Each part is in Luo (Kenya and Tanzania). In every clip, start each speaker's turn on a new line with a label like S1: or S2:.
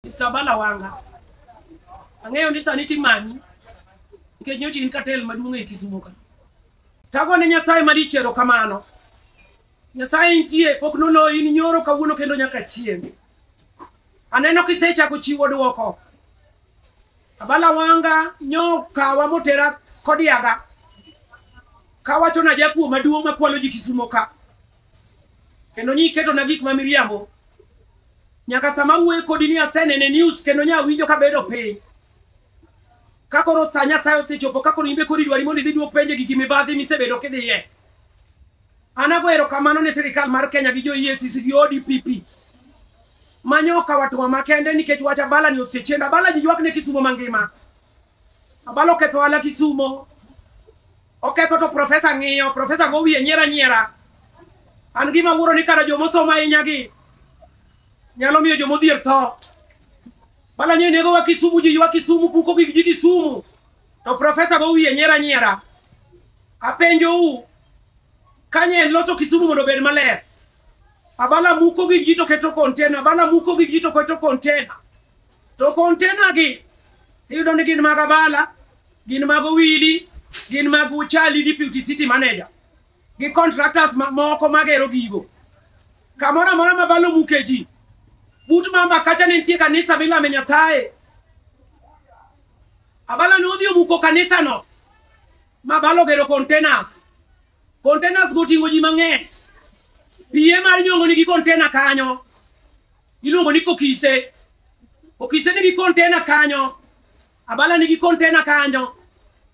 S1: Mr. Bala Wanga, ang'eyo ni sani timanyi nikech nyocha in katel maduong' e Kisumo ka. Tago ne Nyasaye malich erokamano. Nyasaye nitie pok nono in nyoro kawuono kendo nyaka chieng'. Aneno kisechako chiwo dwoko. Abala Wanga nyo kawa motera kodiaga. Kawacho na jakuo maduong' makwalo ji Kisumo ka. Kendo nyiketo na gik ma miriambo. Nyaka sama awuoyo kodi ni aseneno e news kendo nya winjo ka bedo piny. Ka koro sa Nyasaye osechopo ka koro imbe kori dwari mondo idhi duok penje gigi mibadhi misebedo kidhiye. An ago erokamano ne sirikal mar Kenya gi jo EACC gi ODPP manyoka watuwa makende nikech wach abala ni osechenda abala ji ywak ne kisumo mangima abala oketho ala kisumo Oketho to profesa ng'iyo, profesa go wiye nyiera nyiera. An gima wuoro ni kara joma osomo ahinya gi nyalo miyo joma odhier tho. Bala nyo nego wa Kisumu ji wa Kisumu puko gi ji Kisumu. To profesa go wiye nyiera nyiera. Apenjo u kanye en loso Kisumu mondo obed maler. Abala muko gi ji to keto container, abala muko gi ji to keto container. To container gi iyudo ni gin mag abala. gin mag owili gin mag uchali deputy city manager gi contractors ma- moko magero gigo kamoro amora ma balo muke ji but mamba kacha ne nitie kanisa milame nyasaye abala ne odhi omuko kanisano ma balo gero containers containers go oting'o ji mang'eny piye mar nyongo nigi container kanyo iluongo ni kokise okise nigi container kanyo Abala nigi container kanyo.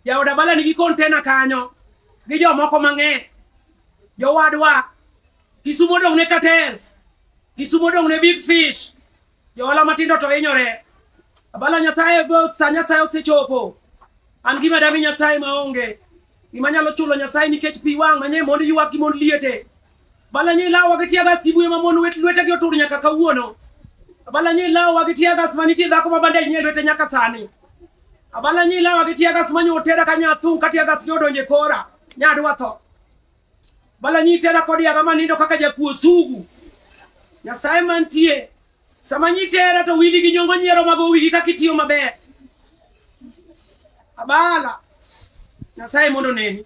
S1: Jaod Abala nigi container kanyo. Gi jomoko mang'eny. Jowadwa. Kisumo dong' ne cartels. Kisumo dong' ne big fish. Johala matindo to hinyore. Abala Nyasaye go sa Nyasaye osechopo. An gima dami Nyasaye maonge. Gima nyalo chulo Nyasaye nikech pi wang' manye mond ywak gi mond liete. Balanyo ilawowa gi tiagas gi buye ma mon wet- lwetegi otur nyaka kawuono. Abalanyo ilawowa gi tiagas ma nitie dhako ma bandej nie lwete nyaka sani. Abalanyo ilawowa gi tiagas ma nyo otera ka nyathung' ka tiagas nyo odonjo e kora. Nyadwa tho. Balanyo itera kod yaga ma nindo kaka jakuo sugu. Nyasaye mantie. Sama nyitera to wili gi nyongo nyiero mago wigi kaka itiyo maber. Abala. Nyasaye mondo oneni.